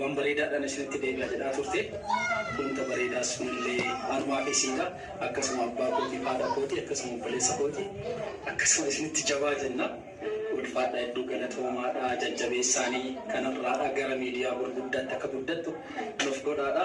Waan bareedaadhaan isinitti deebi'a jedhaa turte. Wanta bareedaa sunillee anumaa fi isiidha. Akkasuma abbaa kootiif haadha kooti, akkasuma obboleessa kooti, akkasuma isinitti jabaa jenna. Ulfaadhaa hedduu galatoomaadha. Jajjabeessaanii kanarraadha gara miidiyaa gurguddaatti akka guddattu nuuf godhaadha.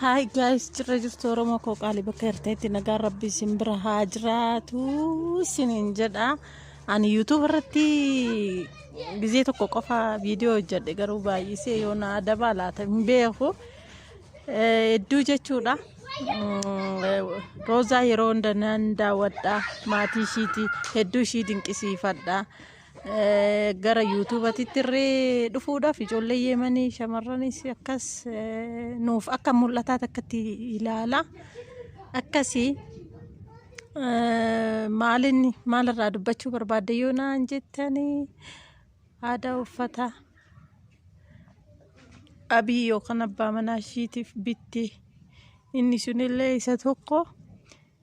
Hi guys, jirra jirtu Oromoo koo qaalii bakka jirteetti nagaan rabbi isin bira haa jiraatu isiniin jedha. Ani YouTube irratti gizee tokko qofa viidiyoo hojjedhe garuu baay'isee yoo na adaba laata hin beeku. Eh, Hedduu jechuudha. Mm, eh, Roozaa yeroo hunda nan daawwadha. Maatii ishiiti hedduu ishii dinqisiifadha. gara yuutuubatitti irree dhufuudhaaf ijoollee yeemanii shamarranis akkas nuuf akka mul'ataa takkatti ilaala akkasii maalin maalirraa dubbachuu barbaadde yoo naan jettanii aadaa uffata abii yookaan abbaa manaa ishiitiif bitte inni sunillee isa tokko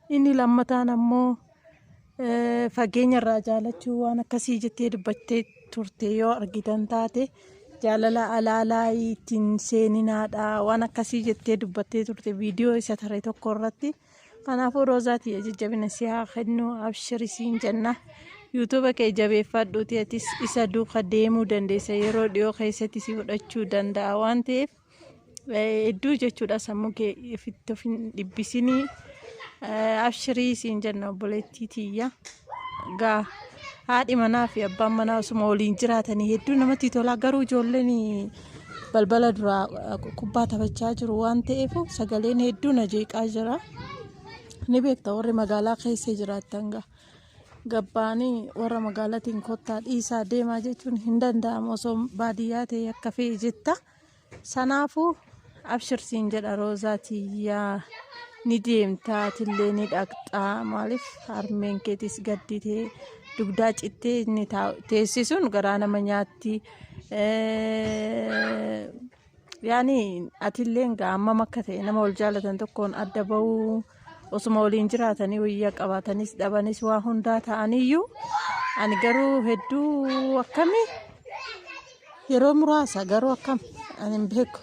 Inni lammataan ammoo fageenya irraa jaalachuu waan akkasii jettee dubbattee turte yoo argitan taate jaalala alaalaa ittiin seeninaadha waan akkasii jettee dubbattee turte viidiyoo isa tare tokko irratti. Kanaafuu Roozaatii jajjabina si haa kennu abshiri siin jenna. Yuutuuba kee jabeeffadhuuti atis isa duuka deemuu dandeessa yeroo dhiyoo keessatti si fudhachuu danda'a waan ta'eef Hedduu jechuudha sammuu kee ifitti of hin dhibbisinii. Abshirii siin jenna obboleettii tiyya. Gaa haadhi manaa fi abbaan manaa osuma waliin jiraatanii hedduu namatti tola. Garuu ijoolleen balbala duraa kubbaa taphachaa jiru waan ta'eef sagaleen hedduu na jeeqaa jira. Ni beekta warri magaalaa keessa jiraattan gaa. Gabbaanii warra magaalaatiin kottaa dhiisaa deemaa jechuun hin danda'amu osoo baadiyyaa ta'e akka fe'e jetta. Sanaafuu abshir siin jedha roozaa tiyyaa ni deemtaa atillee ni dhaqxaa maaliif harmeen keetis gadditee dugdaa cittee inni taa- teessisuun garaa nama nyaatti. Eh, Yaani atilleen gaa hammam akka ta'e nama wal jaalatan tokkoon adda bahuu Osuma waliin jiraatanii wayyaa qabaatanis dhabanis waa hundaa ta'aniyyuu ani garuu hedduu akkami yeroo muraasa garuu akkam ani hin beeku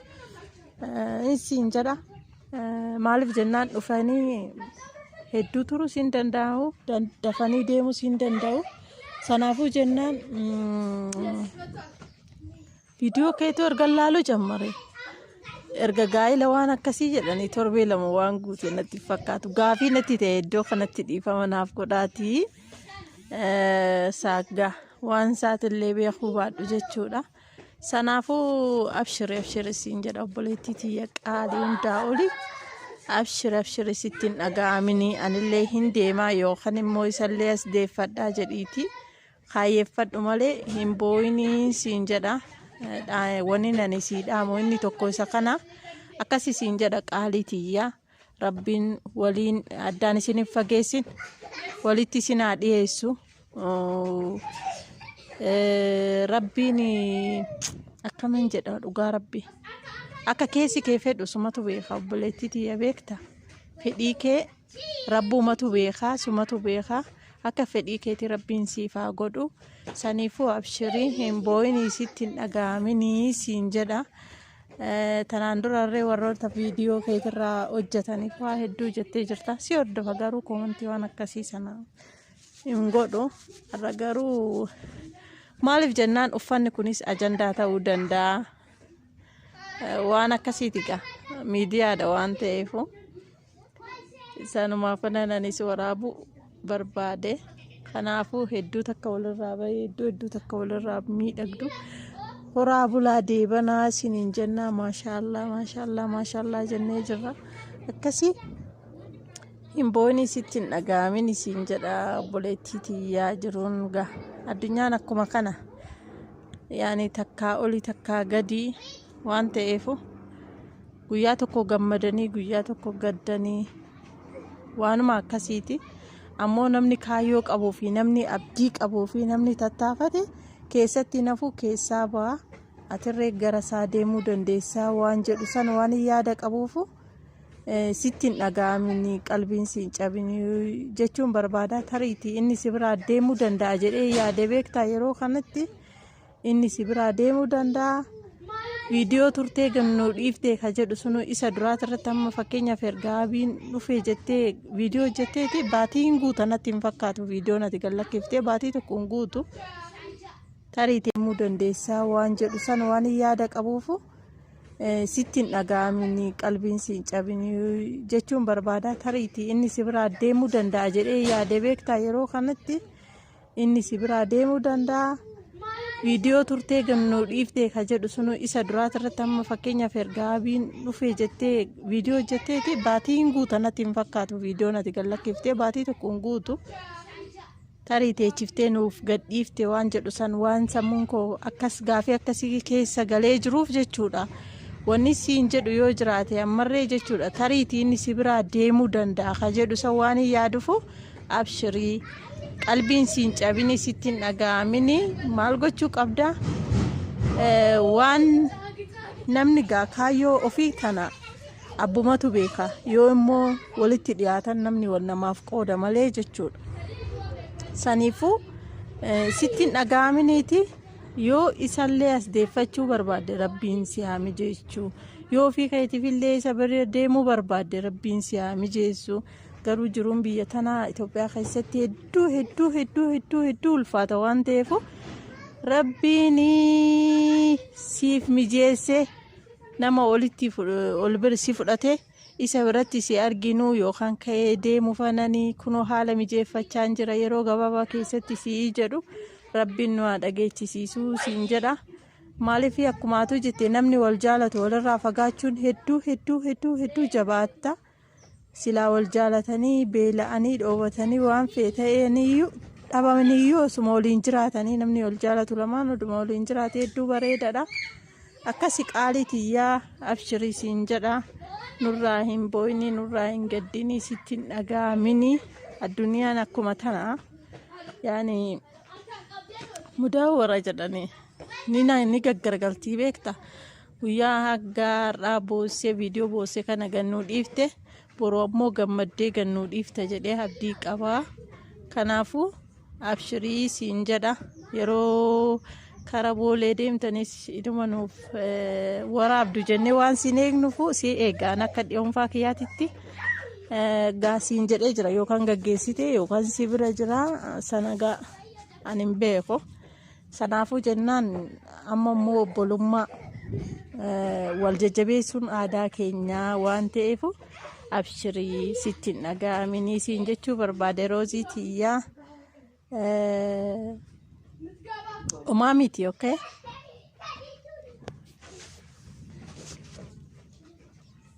isiin jedha maaliif jennaan dhufanii hedduu turus hin danda'u dafanii deemus hin danda'u sanaafuu jennaan Viidiyoo keetuu ergan laaluu jammare. Erga gaa'ila waan akkasii jedhanii torbee lama waan guute natti hin fakkaatu. Gaafii natti ta'e iddoo kanatti dhiifama naaf godhaatii eh, saaggaa waan isaatillee beekuu baadhu jechuudha. Sanaafuu abshiri abshiri siin jedha obboleettii tiyya qaalii hundaa oli. Abshiri abshiri sitti hin dhaga'aminii anillee hin deemaa yookaan immoo isallee as deeffadhaa jedhiitii. Kaayyeffadhu malee hin boo'inii siin jedha. Wanni nani sii dhaamu inni tokko isa kana akkasi siin jedha qaalii tiyya. Rabbiin waliin addaan isin hin fageessin walitti isin haa dhiyeessu. Rabbiin akkamiin jedha dhugaa rabbi. Akka keessi kee fedhu sumatu beeka obboleettii tiyya beekta. Fedhii kee Rabbuumatu beekaa sumatu beekaa akka fedhii keetii rabbiin siif haa godhu saniifuu abshirii hin boo'inii sitti hin dhaga'aminii siin jedha Eh, tanaan durarree warroota viidiyoo keetirraa hojjetaniif waa hedduu jettee jirta si hordofa garuu koomantii waan akkasii sana hin godhu har'a garuu maaliif jennaan uffanni kunis ajandaa ta'uu danda'a Eh, waan akkasiiti gaa miidiyaadha waan ta'eefu. Isaanumaaf kanan anis waraabuu barbaade. Kanaafuu hedduu takka walirraa bahee hedduu hedduu takka walirraa miidhagdu. Horaa bulaa deebanaa isiniin jennaa maashaallaa maashaallaa maashaallaa jennee jirra. Akkasii hin boonii sitti hin dhaga'amin isiin jedha obboleettii tiyyaa jiruun gaa. Addunyaan akkuma kana. Yaani takkaa oli takkaa gadii. waan ta'eefu guyyaa tokko gammadanii guyyaa tokko gaddanii waanuma akkasiiti ammoo namni kaayyoo qabuu fi namni abdii qabuu fi namni tattaafate keessatti nafuu keessaa ba'a atirree gara isaa deemuu dandeessaa waan jedhu san waan yaada qabuufu eh, sitti hin dhaga'amini qalbiin si hin cabini jechuun barbaada tariiti inni si biraa deemuu danda'a jedhee yaade beektaa yeroo kanatti. inni si biraa deemuu danda'a. Viidiyoo turtee gannoo dhiiftee ka jedhu sunu isa duraati irratti amma fakkeenyaaf erga abiin dhufee jettee viidiyoo hojjetteeti baatii hin guuta natti hin fakkaatu viidiyoo nati gallakkiftee baatii tokko hin guutu tarii deemuu dandeessaa waan jedhu san waan hin yaada qabuufu eh, sitti hin dhaga'amini qalbiin si hin cabini jechuun barbaada tariiti inni si biraa deemuu danda'a jedhee yaade beektaa yeroo kanatti. inni si biraa deemuu danda'a. Viidiyoo turtee gannoo dhiiftee ka jedhu sunu isa duraati irratti amma fakkeenyaaf erga abiin dhufee jettee viidiyoo hojjetteeti baatii hin guuta natti hin fakkaatu viidiyoo nati gallakkiftee baatii tokko hin guutu. Tarii teechiftee nuuf gadhiifte waan jedhu san waan sammuun koo akkas gaafii akkasii keessa galee jiruuf jechuudha. Wanni siin jedhu yoo jiraate ammarree jechuudha tariitii inni si biraa deemuu danda'a ka jedhu san waan hin yaadufu Abshirii qalbiin siin cabini sitti hin dhaga'amini maal gochuu qabda Eh, waan namni gaa kaayyoo ofii tana abbumatu beeka yoo immoo walitti dhiyaatan namni wal namaaf qooda malee jechuudha saniifuu eh, sitti hin dhaga'aminiiti yoo isallee as deeffachuu barbaadde rabbiin si haa mijeessuu yoo ofii keetiifillee isa bira deemuu barbaadde rabbiin si haa mijeessuu garuu jiruun biyya tanaa Itoophiyaa keessatti hedduu hedduu hedduu hedduu hedduu ulfaata waan ta'eef rabbiin siif mijeessee nama olitti ol bira si fudhate isa biratti si arginu yookaan ka'ee deemu fanani kunoo haala mijeeffachaa hin jira yeroo gabaabaa keessatti si'ii jedhu rabbiin nu haa dhageechisiisuu siin jedha. Maaliif akkumaatu jette namni wal jaalatu walirraa fagaachuun hedduu hedduu hedduu hedduu jabaatta. Silaa wal jaalatanii beela'anii dhoobatanii waan fee ta'eeniyyuu dhabamaniyyuu osuma waliin jiraatanii namni wal jaalatu lamaan oduma waliin jiraate hedduu bareedadha. Akkasi qaalii tiyyaa abshirii siin jedha nurraa hin booyinii nurraa hin gaddinii sitti hin dhagaaminii addunyaan akkuma tana yaani mudaa warra jedhanii ni na- ni gaggargaltii beekta. Guyyaa haggaa har'aa boossee viidiyoo boossee kana gannuu dhiifte boruu ammoo gammaddee gannuu dhiifta jedhee abdii qabaa. Kanaafuu abshirii siin jedha yeroo kara boolee deemtanis iduma nuuf waraabdu jennee waan siin eegnufu si eegaan akka dhiyoonfaa kiyyaatitti gaa siin jedhee jira yookaan gaggeessite yookaan si bira jira sana gaa ani hin beeku. Sanaafuu jennaan amma immoo obbolummaa wal jajjabeessuun aadaa keenyaa waan ta'eef abshirii sitti hin dhaga'aminii siin jechuu barbaade roozii tiyyaa umaa miti okay.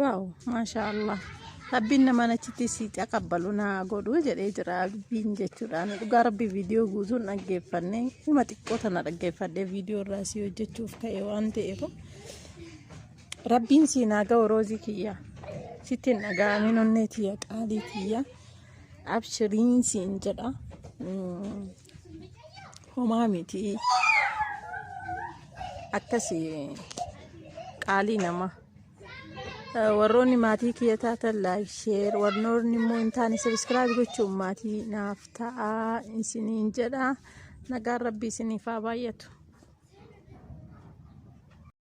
Waaw maashaa Allah rabbiin namaan achitti si taqabbalu naa godhu jedhee jira abbiin jechuudhaan dhugaa rabbi viidiyoo guutuun dhaggeeffanne hima xiqqoo tana dhaggeeffadhe viidiyoo irraa si hojjechuuf ka'e waan ta'eef rabbiin si naa ga'u roozii kiyya sitti hin dhaga'amin onnee tiyya qaalii tiyya abshiriin siin jedha Mm, homaa miti akkasi qaalii namaa. warroonni maatii kiyya taatan laayik sheer warnoonni immoo hin taane sabiskiraayib gochuun maatii naaf ta'aa isiniin jedha nagaan rabbii isiniif haa baay'atu.